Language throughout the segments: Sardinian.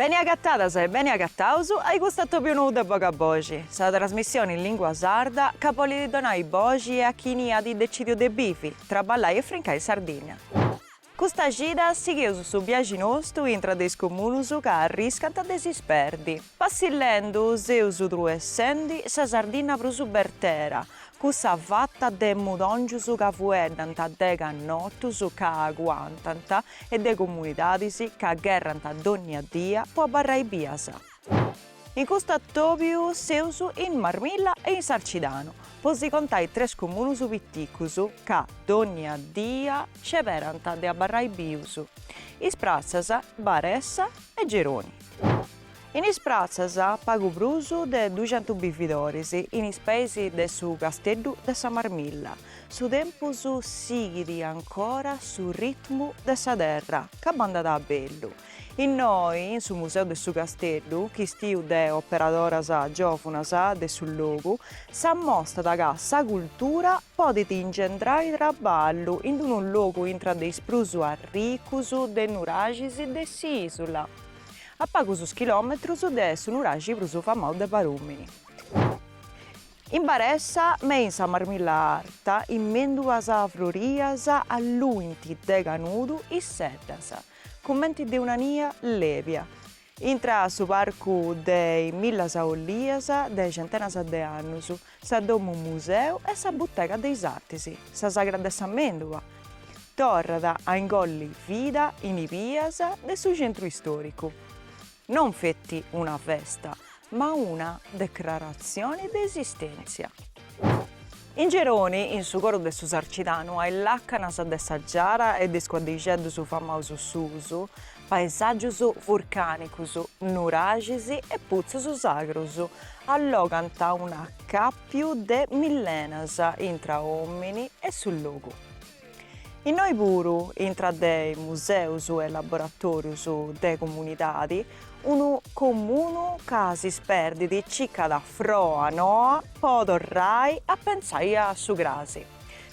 Beni agatadas e beni agataus ai custu atòbiu nou de Boga Boxi, sa trasmissioni in lingua sarda ca bolit donai boxi e a chini at decidiu de bivi, traballai e frincai in Sardinnia. Custa cida sighius su biaxi nostu intra de is comunus ca arriscant de s'isperdi. Passillendu seus truessendi sa Sardìnnia prus bertera, cussa fatta de mudòngius ca fueddant de cannotus ca aguantant e de comunidadis ca gherrant dònnia dia po abarrai bias. In custu atòbiu seus in Marmilla e in Sarcidanu, po si contai tres comunus piticus ca dònnia dia sceberant de abarrai bius, Is Pratzas, Baressa e Geroni. In Is Pratzas pagu prus de duxentus bividoris, in is peis de su Casteddu de sa Marmilla, su tempus sighit ancora su ritmu de sa terra ca bandat a bellu, Innoi, in su Museu de su Casteddu, chistiu de operadoras giòvunas de su logu, s'amostat ca sa cultura podit ingendrai traballu in unu logu intra de is prus arricus de nuraxis de s'ìsula, a pagus chilòmetrus de su nuraxi prus famau de Barùmini. In Baressa me in sa Marmilla Arta is mèndulas frorias alluint de canudu is seddas. Cumenti de una nia lèbia. Intra su parcu de is millas ollias de centenas de annus, sa domu museu e sa butega de is artis, sa sagra de sa mèndula, torrat a ingolli vida in is bias de su centru istòricu. Non feti una festa, ma una decraratzione de esistèntzia. In Geroni, in su coro de su Sarcidanu, a is làcanas de sa giara e de is cuaddixeddus famaus suus, paesàgius vurcànicus, nuraxis e putzus sagrus allogant un'acàpiu de millenas intra òmini e su logu. Innoi puru, intra de museus e laboratòrius de comunidadi, unu comunu ca s'isperdit circat froa noa po torrai a pentzai a su crasi.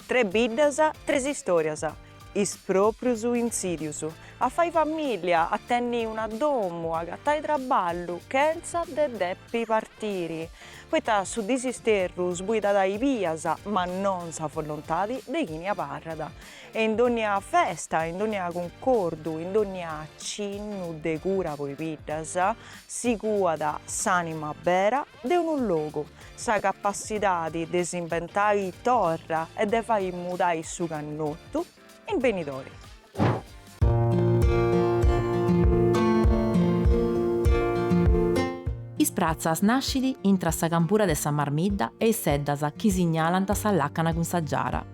Tres biddas, tres istòrias, is pròprius intzìdius a fai famìllia, a tenni una domu, agatai traballu chentza de depi partiri Poita su disisterru sbuidat is bias, ma non sa volontadi de chini abarrat. E in dònnia festa, in dònnia cuncordu, in dònnia cinnu de cura po i biddas, si cuat s'ànima bera de unu logu, sa capassidadi de s'imbentai torra e de fai mudai su cannotu, in benidori. Is Pratzas nascit intra sa campura de sa Marmidda e is seddas chi signalant sa làcana cun sa Giara.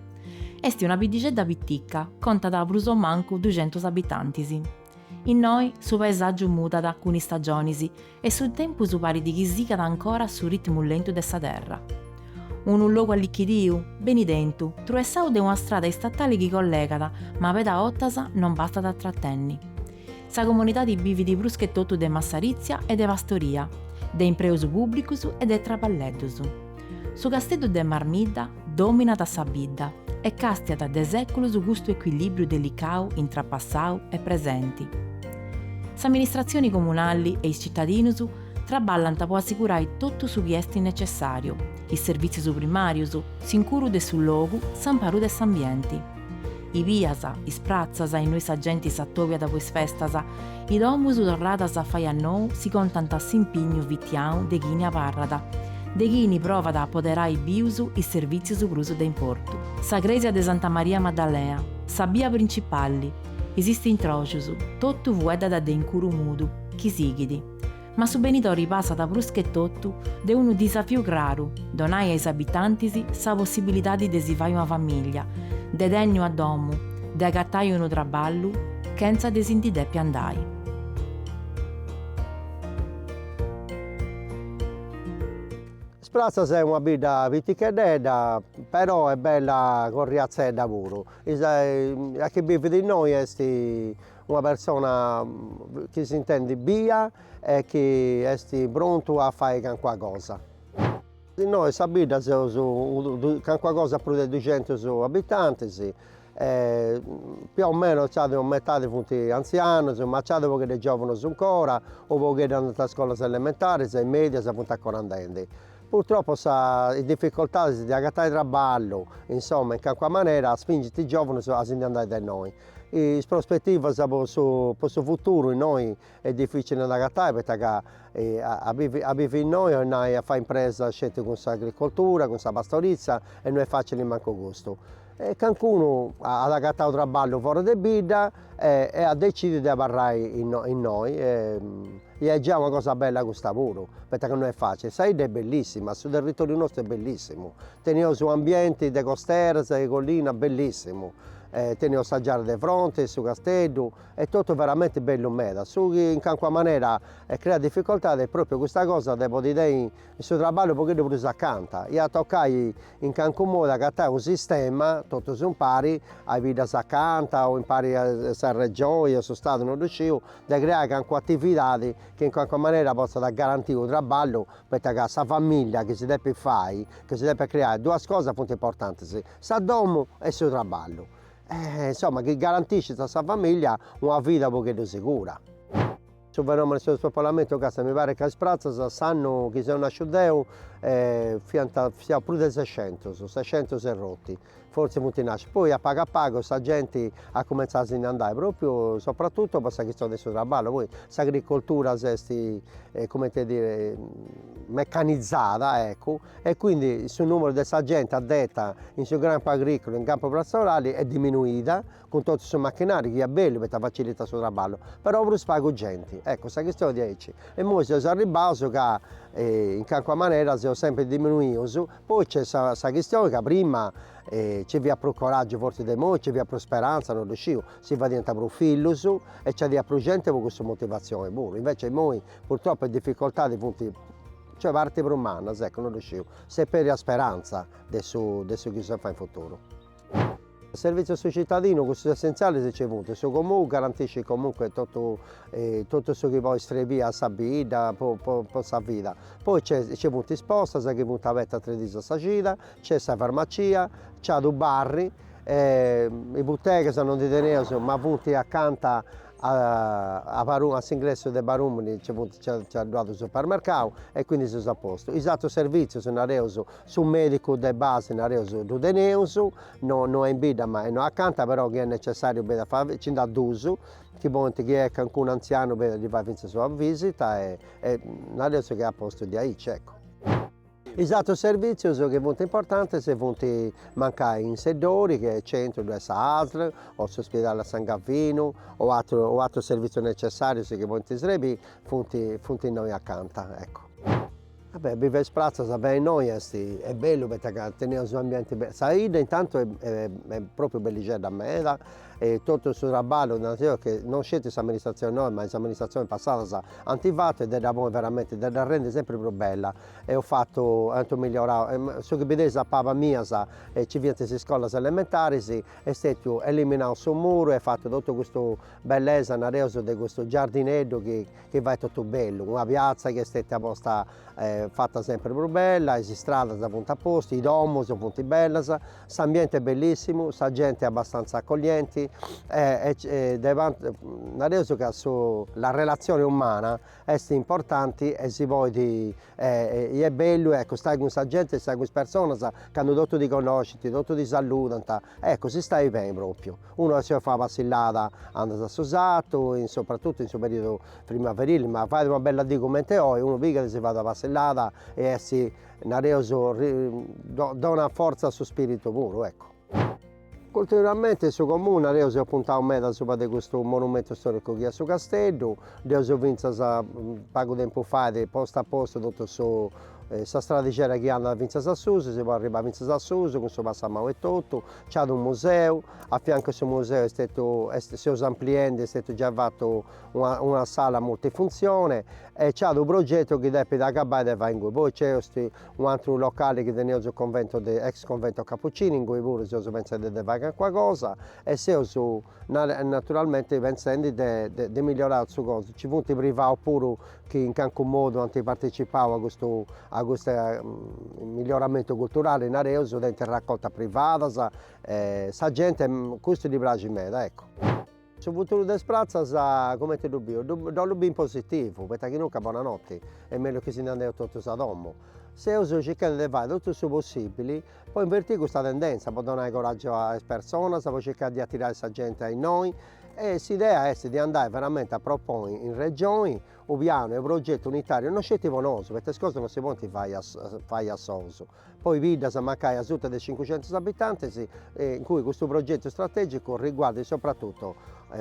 Est una biddixedda pitica, contat prus o mancu duxentus abitantis. Innoi su paesàgiu mudat cun is stagionis e su tempus parit chi sigat ancora su ritmu lentu de sa terra. Unu logu allichidiu, beni tentu, truessau de una strada istatale chi collegat, ma meda 'ottas non bastat a tratenni. Sa comunidadi bivit prus che totu de massaritzia e de pastoria, de impreus pùbblicus e de traballeddus. Su Casteddu de Marmidda, Dominat sa bidda e càstiat de sèculus custu ecuilìbriu delicau intra passau e presenti. S'amministratzioni comunali e is citadinus traballant po assigurai totu su chi est necessàriu, is servìtzius primàrius, s'incuru de su logu, s'amparu de s'ambienti. I bias, is pratzas innui sa genti s'atobiat po is festas, i domus torradas a fai a nou si contant s'impignu fitiau de chini abarrat, de chini provat a apoderai bius is servìtzius prus de importu. Sa crèsia de Santa Maria Maddalea, sa bia principali, is istintròcius, totu fueddat de incuru mudu, chi sighit. Ma su benidori passat pruschetotu de unu disafiu craru, donai a is abitantis sa possibilidadi de si fai una famiglia, de tenni una domu, de agatai unu traballu chentza de si ndi depi andai. Is Pratzas est una bidda piticheddedda, però est bella corriatzedda puru. A chi bivit innoi est Una persona chi s'intendit bia e chi est prontu a fai cancuna cosa. Innoi sa bidda seus cancuna cosa prus de duxentus abitantis, più o meno ca sa metadi funt antzianus, ma nc'at u' pogheddu de giovunus ancora, u' pogheddu andant a is scolas elementaris e medias e funt ancora andendi. Purtroppo is difficoltadis de agatai trabballu, insoma, in cancuna manera spingint is giovunus a si ndi andai de innoi. Is prospetivas po su po su futuru innoi est dificili a nd'agatai poita ca a bivi a bivi innoi o nai a fai impresa sceti cun s'agricoltura, cun sa pastorizia e no est facili mancu custu. E cancunu at agatau traballu foras de bidda e e at decidiu de abarrai innoi innoi e ia est giai una cosa bella custa puru, poita ca no est facili. Sa 'idda est bellissima, su territoriu nostru est bellissimu, teneus u' ambienti de costeras e collinas bellissimu Teneus sa giara de fronti, su casteddu, est totu veramenti bellu meda. Su chi in calincuna manera creat dificoltade est pròpiu custa cosa de podi tenni in su traballu unu pogheddu prus acanta. Iat a tocai in calincunu modu agatai unu sistema, totus impari, a is biddas acanta o impari a sa Regioni o a su Stadu, no ddu sciu, de creai calincuna atividadi chi in calincuna manera potzat garantii unu traballu poita ca sa familia chi si depit fai, chi si depit creai duas cosas funt importantis Sa domu e su traballu. E insomma chi garantiscint a sa familia una vida unu pogheddu sigura. Su fenomenu 'e su spopolamentu càstia mi parit ca Is Pratzas s'annu chi seu nasciu deu fiant fiaus prus de sescentus, sescentus e rotti, fortzis funt nascius, poi a pagu a pagu sa genti at cumentzau a si ndi andai propriu sopratutu po sa chistioni 'e su traballu, poi s'agricoltura s'est coment'e dire mecanizada eccu e quindi su nùmeru de sa genti addeta in su campu agrìculu in campu pastorali est diminuida, cun totu su machinàriu chi est bellu poita facilitat su traballu, però prus pagu genti. Ecco, sa chistioni diaici. Imoi seus arribbaus ca in calincuna manera seus sempri diminuius, poi nc'est sa sa chistioni ca prima nci fiat prus coràgiu fortzis de imoi, nci fiat prus speranza, non ddu sciu, si fadiant prus fillus e nci aiat prus genti po cussa motivatzioni puru, invecias imoi purtroppu is dificoltadis funt Cioè parint prus mannas, ecco, no ddu sciu, s'est perdia speranza de su de su chi si fai in futuru. Servizius a su cittadinu, cussus essentzialis nci funt, su Comunu garantiscit comunque totu totu su chi podit srebì a sa bidda po po po sa vida, poi nc'est nci funt is postas chi funt abertas tres diis a sa cida, nc'est sa farmacia, nc'at u' bar, e i' buttegas no ndi teneus ma funt acanta A paru a s'ingressu de Barumini nci funt nci at ddu at u' supermercau e quindi seus a postu. Is atrus servizius nareus, su medicu de base nareus ddu teneus, no no est in bidda ma est innoi acanta, però chi est necessariu benit a fai, nci nd'at dus chi podint chi est calincunu anzianu benni a ddi fai fintzas una visita e e nareus chi est a postu diaici, eccu. Is atrus servìtzius chi funt importantis funt mancai in Seddori, chi est centru, ddoi est sa ASL o s'ospidali a San Gavinu o atru o atrus servìtzius necessàrius chi podint srebì, funt funt innoi acanta, eccu. Ah beh, bivi a Is Pratzas, beni innoi est, est bellu poita ca teneus u' ambienti bellu, sa 'idda intantu est pròpriu bellixedda meda e totu su traballu, nareus che non sceti s'amministratzioni noa ma is amministratzionis passadas ant fatu e dda ponit veramenti, dda rendi sempri prus bella Eus fatu, ant migliorau, su chi bideis a pabas mias, e nci fiant is iscolas elementaris, est stetiu eliminau su muru e fatu totu custu bellesa, nareus, de custu giardineddu chi chi fait totu bellu, una piazza chi est stetia posta fata sempri prus bella, is istradas funt a postu, i domus funt bellas, s'ambienti est bellissimu, sa genti abbastantza accoglienti e e de nareus ca su la relazione umana Est importanti e si podit e est bellu e ecco stai cun sa genti e stai cun is personas candu totu ti connoscint, totu ti salludant, ecco si stait beni propriu, unu si 'olit fai una passillada andat a su sartu, in soprattutto in su periodu primaverile, ma fait una bella dì comente oi, unu pigat e si fait una passillada e est nareus donat fortza a su spiritu puru ecco Culturalmente in su comunu eus puntau meda subra de custu monumentu storicu chi est su Casteddu, nd'eus finzas pagu tempus fait postu a postu totu su sa stradixedda chi andat finzas a susu, si podit arribai finzas a susu cun su passamau e totu, c'at unu museu, a fiancu 'e su museu est stetiu, est seus ampliendi, est stetiu giai fatu una una sala multifunzione e c'at unu progetu chi depit agabai de fai inguni, poi nc'est Unu atru locali chi teneus su convento de ex convento capucini ingui puru seus pentzendi de fai calincuna cosa e seus naturalmenti pentzendi de de migliorai sa cosa, nci funt privaus puru chi in calincunu modu ant participau a custu a custu miglioramentu culturali nareus tenint raccoltas privadas e sa genti custu ddi praxit meda eccu Su futuru de Is Pratzas comente ddu bìo? Deu ddu bìo in positivu, poita chinunca bona noti, est mellus chi si nd'andeus totus a domu. Seus circhendi de fai totu su possibili po inverti custa tendenza, po donai coraggiu a is personas, po circai de atirai sa genti a innoi e s'idea est de andai veramenti a proponi in Regioni u' pianu e u' progetu unitariu, no sceti po nosu, poita is cosas no si podint fai a fai a sous, Po is biddas mancai asuta de cincucentos abitantes, in cui custu progetu istrategicu riguardat sopratutu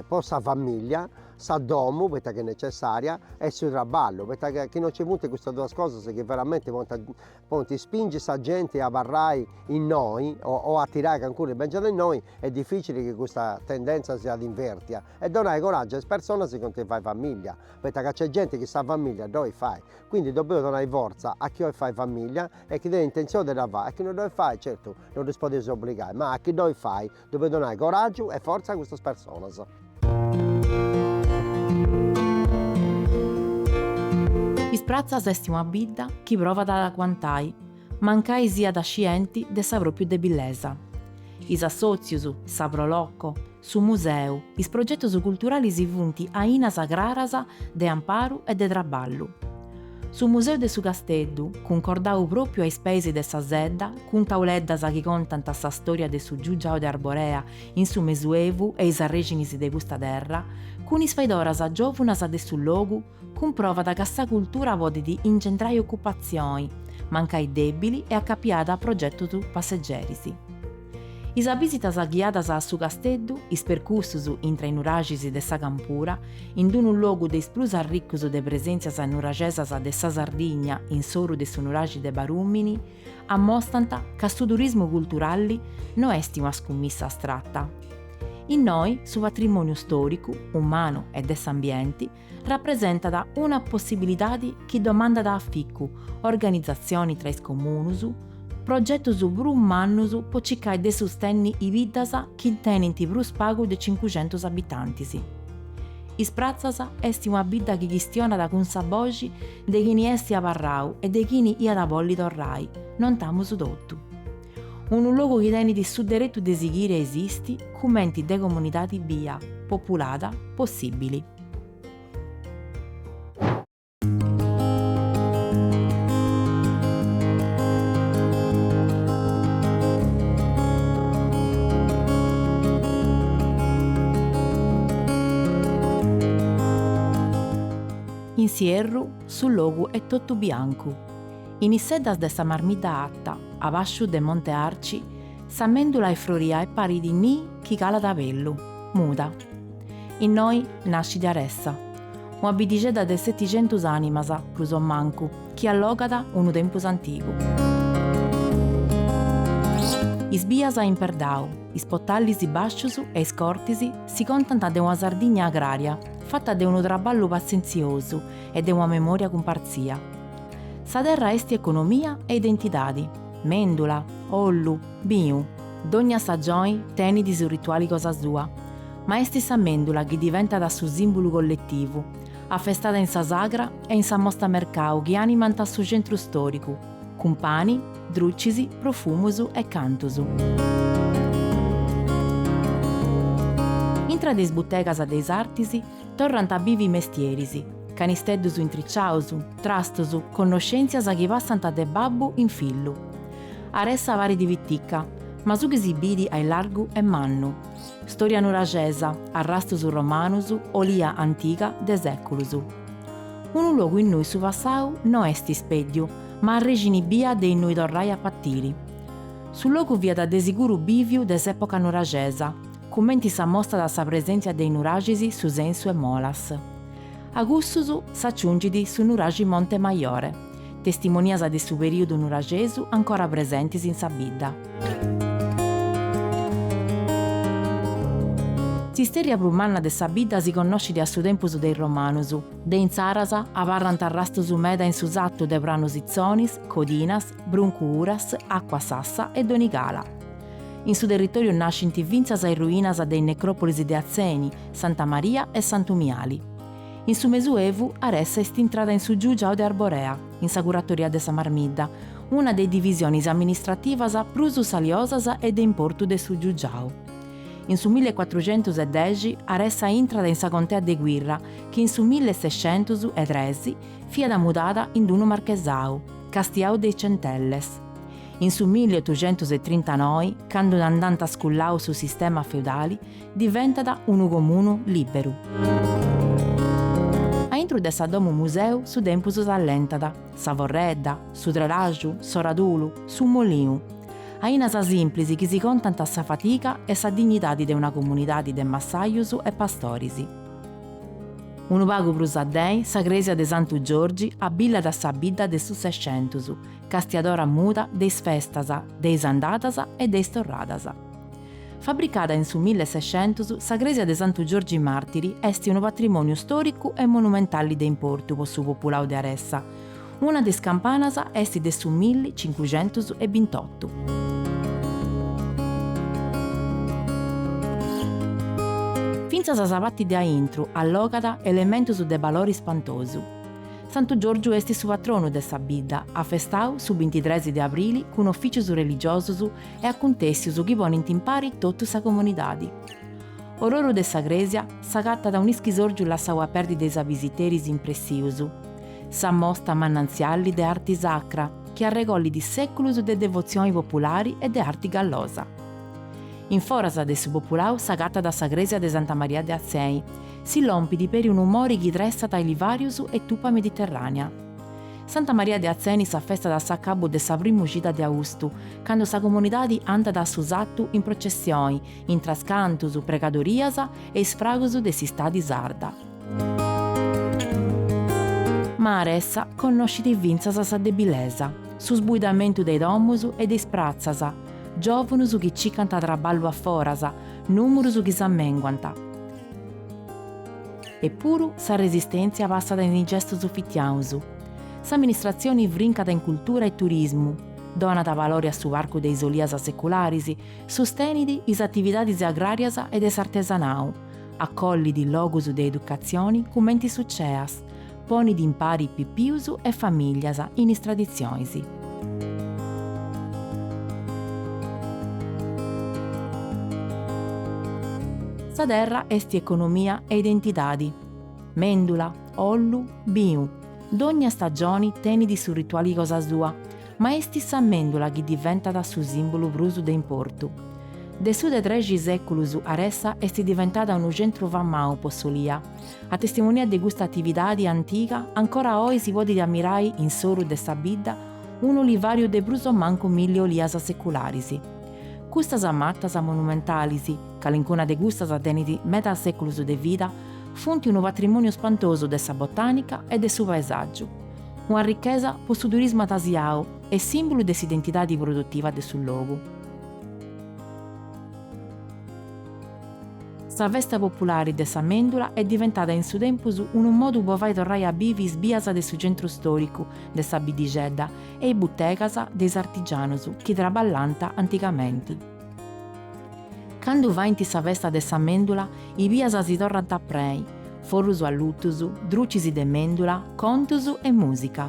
po sa famìllia, sa domu, poita chi est necessària, e su traballu, poita chi non nci funt custas duas cosas chi veramenti podint spingi sa genti a abarrai innoi o a atirai calincunu chi bèngiat innoi, est dificili chi custa tendèntzia siat invèrtia, e donai coraggiu a is personas chi 'olint fai famìllia, poita ca nc'est genti chi sa famìllia dd'olit fai Quindi depeus donai fortza a chi 'olit fai famiglia e chi tenit intentzioni de dda fai, a chi no dd'olit fai, certu, no ddus podeus obbligai, ma a chi dd'olit fai depeus donai coraggiu e fortza a custas personas. Is Pratzas est una bidda chi provat ad aguantai, mancai siat scienti de sa propriu debillesa. Is assotzius, sa Pro Loco, su museu, is progetus culturalis funt ainas craras de amparu e de traballu. Su museu de su Casteddu, cuncordau pròpriu a is peis de sa sedda, cun tauleddas chi contant sa stòria de su Giugiau de Arborea in su Mesuevu e is arrèxinis de custa terra, cun is faidoras giòvunas de su logu, cumprovat ca sa cultura podit ingendrai ocupatzioni, mancai dèbili e acapiada a progetus passegeris. Is abisitas ghiadas a su casteddu, is percursus intra i nuraxis de sa campura, in d-unu logu de is prus arricus de presèntzias nuraxesas de sa Sardigna in s'oru de su nuraxi de Barùmini, ammostant ca su turismu culturalli no est una scummissa astrata. Innoi su patrimòniu stòricu, umanu e de s'ambienti rapresentat una possibilidadi chi domandat aficu, organizatzioni tra is comunus, progetus prus mannus po cicai de sustenni is biddas chi tenint prus pagu de cincuxentus abitantis. Is Pratzas esti una bidda chi chistionat cun sa boxi de chini esti abarrau e de chini iat bolli torrai, nointamus totu. unu logu chi tenit su deretu de sighiri a esisti cumenti de comunidadi bia, populada, possibili. In s'ierru su logu est totu biancu, In is seddas de sa Marmidda Atta, abasciu de Monte Arci, sa mèndula est froria e parit nii chi calat a bellu, muda. Innoi nascit Aressa, una biddixedda de seticentus ànimas prus o mancu, chi allogat unu tempus antigu. Is bias in perdau, is potallis bàscius e is cortis si contant de una Sardigna agrària fata de unu traballu patzentziosu e de una memòria cumpartzia. Sa terra est economia e identidadi, mendula, ollu, binu, dogna sagioni tenidi su rituali cosa sua, ma est sa mendula chi diventat su simbulu colletivu, afestada in sa sagra e in sa mosta mercau chi animant su centru storicu, cun pani, drucis, profumus e cantus. Intra de is butegas de is artis Torrant a bivi mestieris, canisteddus intriciaus, trastus, connoscèntzias chi passant de babbu in fillu. Aressa parit pitica, ma su chi si bidi a illargu est mannu. Storia nuraxesa, arrastus romanus, olia antiga de sèculus. Unu logu innui su passau no est ispèddiu, ma arrexini bia de innui torrai a patiri. Su logu fiat de siguru bìviu de s'època nuraxesa, cumenti s'amostat sa presèntzia de i nuraxis Su Sensu e Molas. A cussus s'aciungit su nuraxi Monte Majore, testimonias de su perìodu nuraxesu ancora presentis in sa bidda. S'istèrria prus manna de sa bidda si connoscit a su tempus de is romanus, de intzaras abarrant arrastus meda in su satu de Pranu Sitzonis, Codinas, Bruncu Uras, Acua Sassa e Donigala. In su territòriu nascint fintzas is ruinas de is necròpolis de Atzeni, Santa Maria e Santu Miali. In su Mesuevu Aressa est intrada in su giugiau de Arborea, in sa curatoria de sa Marmidda, una de is divisionis amministrativas prus saliosas e de importu de su giugiau. In su milli e cuatruxentus e dexi Aressa intrat in sa contea de Quirra chi in su milli e sescentus e tres fiat mudada in d-unu marchesau, castiau de is Centelles. In su milleotuxentus e trintanoi, candu nd'ant sculau su sistema feudali, diventat unu comunu lìberu. Aintru de sa domu museu su tempus s'allentat, sa forredda, su trelaxu, s'oradulu, su moliu. Ainas simplis chi si contant sa fadiga e sa dignidadi de una comunidadi de massajus e pastoris. Unu pagu prus addei, sa cresia de Santu Giorgi abillat sa bidda de su Sescentus, castiadora muda de is festas, de is andadas e de is torradas. Fabricada in su millesexentus, sa crèsia de Santu Giorgi Màrtiri est unu patrimòniu stòricu e monumentali de importu po su populau de Aressa, una de is campanas est de su milli cincuxentus e bintotu. Fintzas sa parti de aintru allogat elementus de balori spantosu. Santu Giorgiu est su patronu de sa bidda, afestau su bintitres de abrili cun officius religiosus e acuntèssius chi ponint in pari totu sa comunidadi. Ororu de sa crèsia s'agatat un'ischisòrgiu lassau a perdi de is abisiteris impressius, sa mosta manantziali de arti sacra chi arregollit sèculus de devotzioni populari e de arti gallosa. In foras de su populau s'agatat sa crèsia de Santa Maria de Atzeni, Si lompidi peri unu mori chi tressat olivàrius e tupa Mediterranea. Santa Maria de Atzeni s'affestat a s'accabbu de sa primu cida de austu, cando sa comunidadi andat a su sattu in processioni, intras cantus, pregadorias e isfragus de s'istadi sarda. Ma Aressa connoscidi fintzas sa debilesa, su sbuidamentu de i domus e de is pratzas, giòvunus chi cicant traballu a foras, nùmurus chi s'ammenguant. Eppuru sa resistèntzia passat in is gestus fitianus. S'amministratzioni vrincat in cultura e turismu, donat valori a su parcu de is olias secularis, sustenit is atividadis agràrias e de s'artesanau, acollit logus de educatzioni cumenti su CEAS, Ponit impari pipius e famìlias in is traditzionis. Sa terra est economia e identidadi. Mèndula, ollu, binu, dònnia stagioni tenit su rituali cosa sua, ma est sa mèndula chi diventat su sìmbulu prus de importu. De su de trexi sèculus Aressa est diventada unu centru famau po s'olia, A testimonia de custa atividadi antiga ancora oi si podit ammirai in s'oru de sa bidda unu olivariu de prus o mancu milli olias secularis. Custas matas monumentalis, calincuna de custas tenit medas seculus de vida, funt unu patrimoniu spantosu de sa botanica e de su paesàgiu, una richesa po su turismu atasiau e sìmbulu de s'identidadi produtiva de su logu. Sa festa populari de sa mèndula est diventada in su tempus unu modu po fai torrai a bivi is bias de su centru stòricu de sa biddixedda e is butegas de is artigianus chi traballant antigamenti. Candu faint sa festa de sa mèndula i bias si torrant a prei, forrus allutus, drucis de mèndula, contus e mùsica.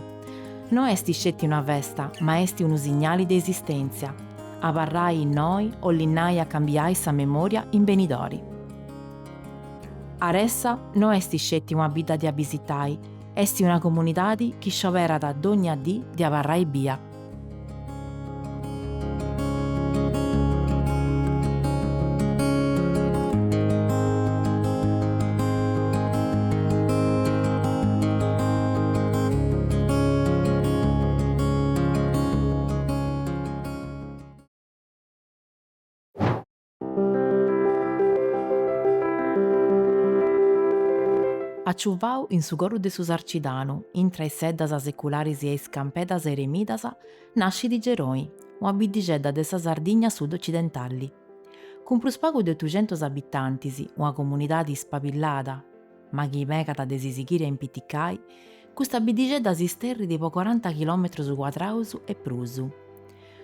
No est sceti una festa ma est unu signali de esistèntzia. Abarrai innoi 'olit nai a cambiai sa memoria in benidori. Aressa no est sceti una bidda de abisitai, est una comunidadi chi scioberat dogna dì de abarrai bia. Aciuvau in su coru de su Sarcidanu, intra is seddas secularis e is campedas eremidas, nascit Geroni, una biddixedda de sa Sardigna sud-ocidentali. Cun prus pagu de otuxentus abitantis, una comunidadi ispabillada, ma chi megat de si sighiri a impiticai, custa biddixedda s'isterrit po coranta chilòmetrus cuadraus e prus.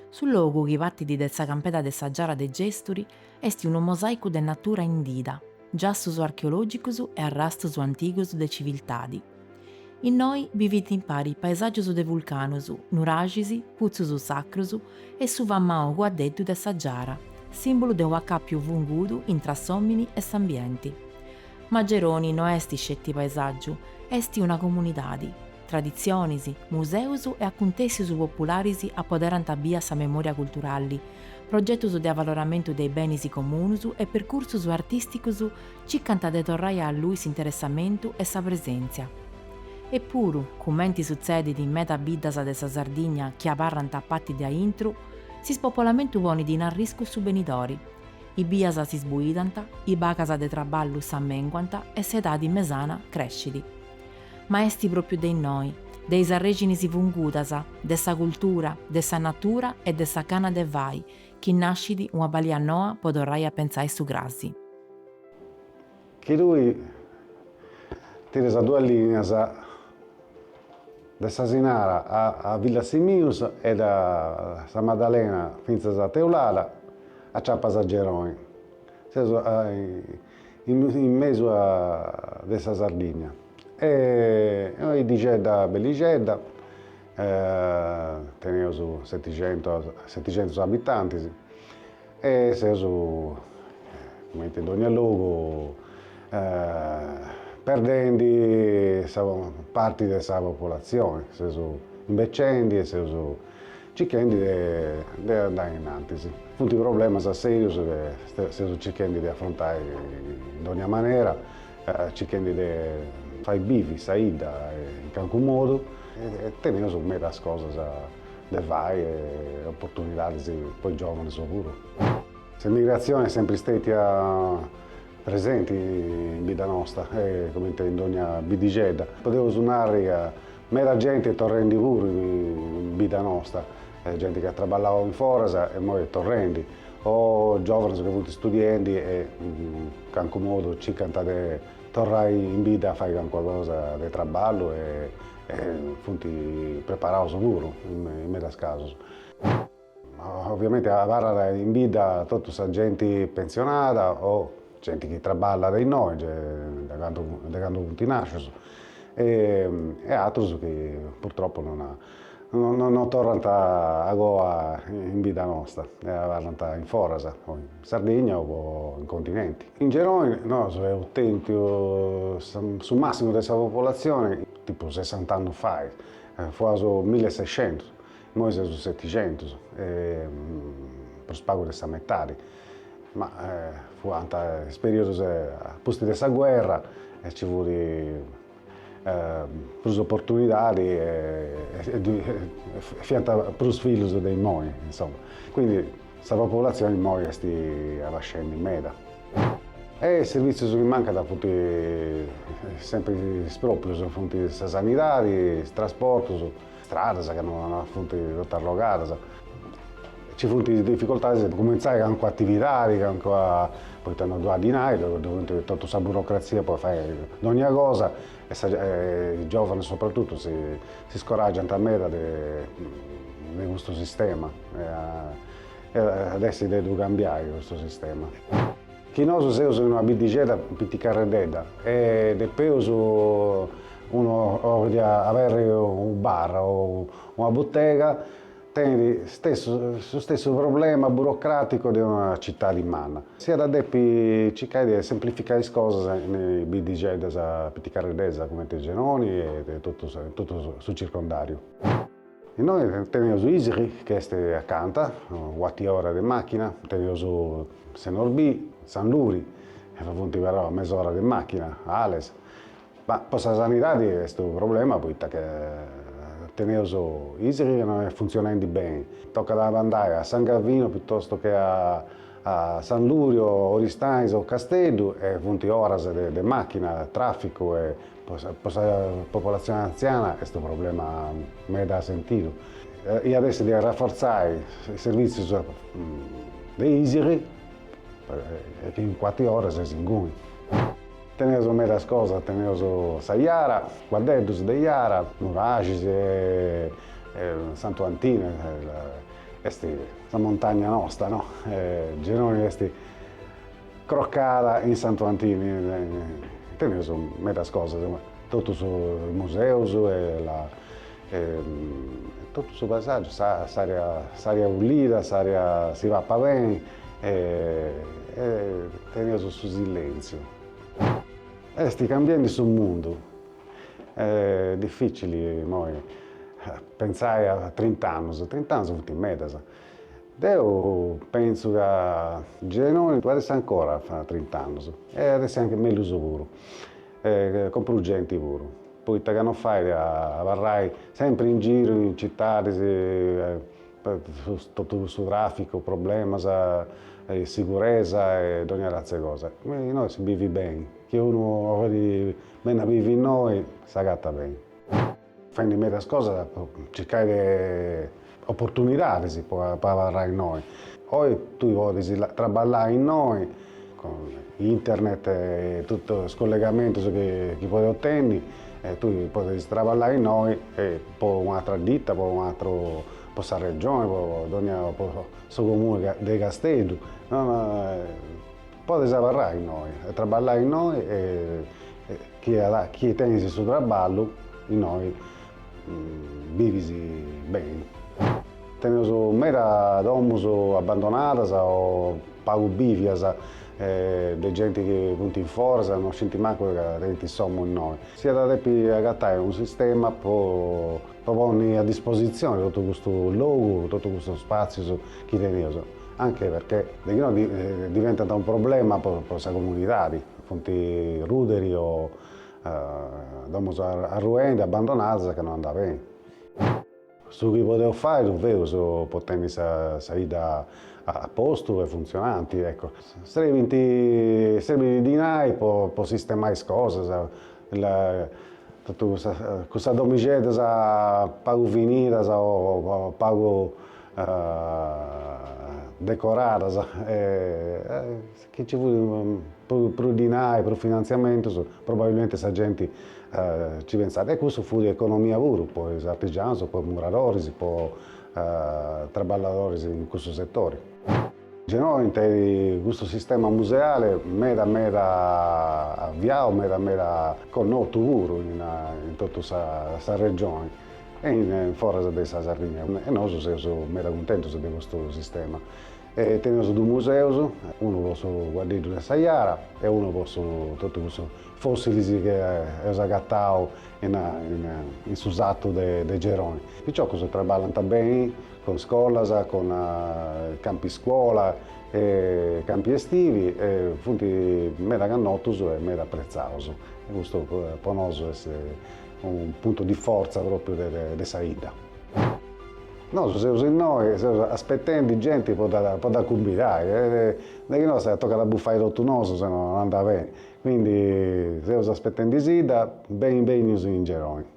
Su logu chi patit de sa campeda de sa Giara de Gèsturi est unu mosàicu de natura indida, giassus archeològicus e arrastus antigus de civiltadi. Innoi bivint impari paesàgius de vulcanus, nuraxis, putzus sacrus e su famau cuaddeddu de sa Giara, sìmbulu de un'acàpiu fungudu intra s'òmini e s'ambienti. Ma Geroni no est isceti paesàgiu, est una comunidadi. Traditzionis, museus e acuntèssius popularis apoderant bia sa memòria culturali, progetus de avaloramentu de is benis comunus e percursus artìsticus circant de torrai a allui s'interessamentu e sa presèntzia. Epuru, cumenti sutzedit in meda biddas de sa Sardigna chi abarrant a pati de aintru, s'ispopolamentu ponit in arriscu su benidori. is bias si sbuidant, is bagas de traballu s'ammenguant e s'edadi mesana crescit. Ma est pròpiu de innoi, de is arrèxinis fungudas, de sa cultura, de sa natura e de sa gana de fai, chi nascit una balia noa po torrai a pentzai su crasi. Chi tui tires duas lìnias de s'Asinara a Villasimius e da sa Maddalena fintzas a Teulada, aciapas a Geroni. Seus in mesu de sa Sardigna. Est una biddixedda bellixedda, teneus seticentus abitantis. E seus, cumenti in dònnia logu, perdendi parti de sa populatzioni, seus imbecendi e seus circhendi de andai in antis. Funt problemas sèrius chi seus circhendi de afrontai in dònnia manera, circhendi de fai bivi sa 'idda in calincunu modu e teneus medas cosas de fai e oportunidadis po is giòvanus puru. S'emigratzioni est sempri stètia presenti in bidda nosta, comente in dònnia biddixedda. Podeus narri ca meda genti est torrendi puru in bidda nosta, genti chi at traballau in foras e imoi est torrendi, o giòvanus chi funt studiendi e in calincunu modu circant de Torrai in bidda a fai calincuna cosa de traballu e funt preparaus puru in medas casus. Oviamenti abarrat in bidda totu sa genti pentzionada o genti chi traballat innoi de candu de candu funt nascius e e atrus chi purtroppu non non torrant agoa in bidda nosta e abarrant in foras Sardigna o in continenti. In Genoni nosu eus tentiu su massimu de sa populatzioni tipu sessant'annus fai, fuaus milli e sescentus, immoi seus setixentus, prus pagu de sa metadi, ma fuant is periodus a pustis de sa guerra e nci fut prus opportunidadi e fiant prus fillus de immoi, insoma, quindi sa populatzioni immoi est abascendi meda. E is servitzius chi mancant funt sempri is pròprius, funt sa sanidadi, is trasportus, Stradas ca funt totu arrogadas, nci funt is dificoltadis de cumintzai calincuna atividadi, calincuna, poita non ddu at dinai, ddu funt totu sa burocratzia po fai dogna cosa e sa is giovanis sopratutu si scoraggiant meda de de custu sistema iat essi de ddu cambiai custu sistema. Chi nosu seus in una biddixedda piticarreddedda e depeus unu oliat aberri unu bar o una buttega tenit stessu su stessu problema burocraticu de una cittadi manna. S'iat a depi circai de semplificai is cosas in biddixeddas piticarreddeddas cumenti Genoni e totu su circondariu. Innoi teneus Isili chi est acanta, cuart'e ora de màchina, teneus Senorbì, Sanluri, chi funt però a mes'ora de màchina, Ales, ma po sa sanidadi est unu problema poita chi teneus Isili chi non est funtzionendi beni, tocat a andai a San Gavinu pitostu che a Sanluri o Oristanis o Casteddu e funt oras de màchina, tràficu e Po sa po sa popolatzione antziana est unu problema meda sentidu. Iat essi de arraforzai is servìtzius de Isili, chi in cuart'e ora ses inguni. Teneus medas cosas, teneus sa jara, cuaddeddus de jara, nuraxis e Santu Antine, est sa montagna nosta no. Genoni est Crocada in Santu Antini teneus medas cosas, totus is museus e totu su paesàgiu, s'ària pulida, si papat beni e teneus su silèntziu. Est cambiendi su mundu, est dificili imoi pentzai a trint'annus, trint'annus funt medas Deu pentzu ca Genoni ddu at a essi ancora fra trint'annus e at a essi anche mellus puru e cun prus genti puru poita ca no fait a abarrai sempri in giru in citadis totu cussu traficu problemas 'e siguresa e dogna ratzia 'e cosa innoi si bivit beni chi unu 'olit benni a bivi innoi s'agatat beni. Faendi medas cosas po circai de oportunidadis po abarrai innoi. Oi tui podis traballai innoi cun internet e totu is collegamentus chi podis otenni e tui podis traballai innoi po un'atra ditta, po un'atru, po sa Regioni, po dogna, po su Comunu de Casteddu. Podis abarrai innoi e traballai innoi e chi tenis su traballu innoi bivis beni. Teneus meda domus abbandonadas o pagu bìvias de genti chi funt in foras e non scint mancu ca tenint s'omu innoi. S'iat a depi agatai unu sistema po ponni a dispositzioni totu custu logu, totu custus spàtzius chi teneus. anche perché de chi no diventant unu problema po sa comunidadi, funt ruderi o domus arruendi, abbandonadas ca no andat beni. Su chi podeus fai ddu feus po tenni sa 'idda a postu e funtzionanti, ecco. Serbint, serbit dinai po sistemai is cosas, totu cussas domixeddas pagu finidas o pagu decoradas e chi nci fut prus dinai, prus finantziamentus, probabilmenti sa genti nci pentzat. E cussu fut economia puru po is artigianus, po is muradoris, po traballadoris in cussu setori. Genoni tenit custu sistema museale meda meda aviau, meda meda connotu puru in totu sa Regioni e in foras de sa Sardigna e nosu seus meda cuntentus de custu sistema. Teneus duus museus, unu po su Cuaddeddu de sa Jara e unu po su totu cussus fossilis chi eus agatau in su satu de Geroni. Is piciocus traballant beni cun scolas, cun campi scuola e campi estivi e funt meda cannotus e meda apprezzaus e custu po nosu est unu puntu di fortza propriu de sa 'idda. Nosu seus innoi, seus aspetendi genti po dda cumbidai e de chi no si tocat a bufai totu nosu sennò non andat beni, quindi seus aspetendisidda, beni benius in Geroni.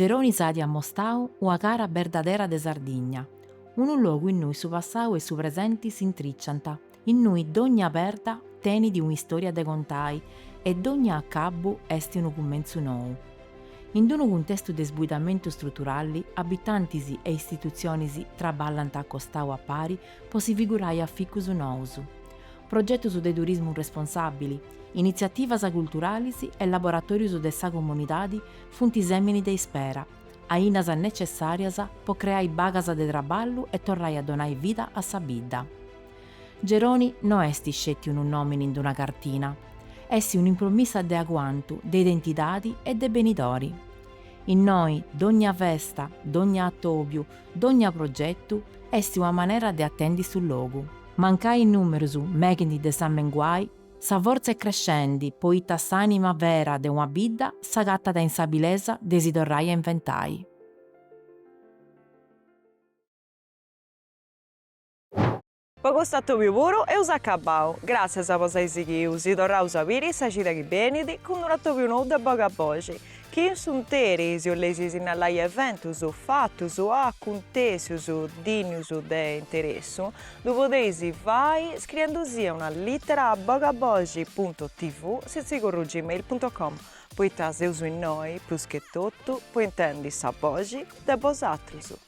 Geroni s'at amostau una cara berdadera de Sardigna, unu logu innui su passau e su presenti s'intriciant, innui dogna perda tenit un'istoria de contai e dogna acabu est unu cumentzu nou. In d'unu cuntestu de sbuidamentu struturali, abitantis e istitutzionis traballant a costau a pari po si figurai aficus nous, progetus de turismu responsàbili, initziativas culturalis e laboratòrius de sa comunidadi funt sèmini de ispera, ainas netzessàrias po creai bagas de traballu e torrai a donai vida a sa bidda. Geroni no est sceti unu nòmini in una cartina, est un'impromissa de aguantu, de identidadi e de benidori. Innoi, dònnia festa, dònnia atòbiu, Dogna progetu est una manera de atendi su logu. Mancai is numerus meghint de s'amenguai, sa fortza est crescendi poita s'anima vera de una bidda s'agatat in s'abilesa de si torrai a inventai. Po custu atòbiu puru eus acabau. Gràtzias po s'ai sighiu, si torraus a biri sa cida chi benit cun unu atòbiu nou de Bogaboxi, chi in su 'nteri, si 'oleis sinnalai eventus, fatus, acuntèsius, dìnnius de interessu, ddu podeis fai scriendisì una lìtera a bogaboxi punto tv sitzigorru gmail punto com, poita seus innoi, prus che totu, po intendi sa boxi de bosatrus.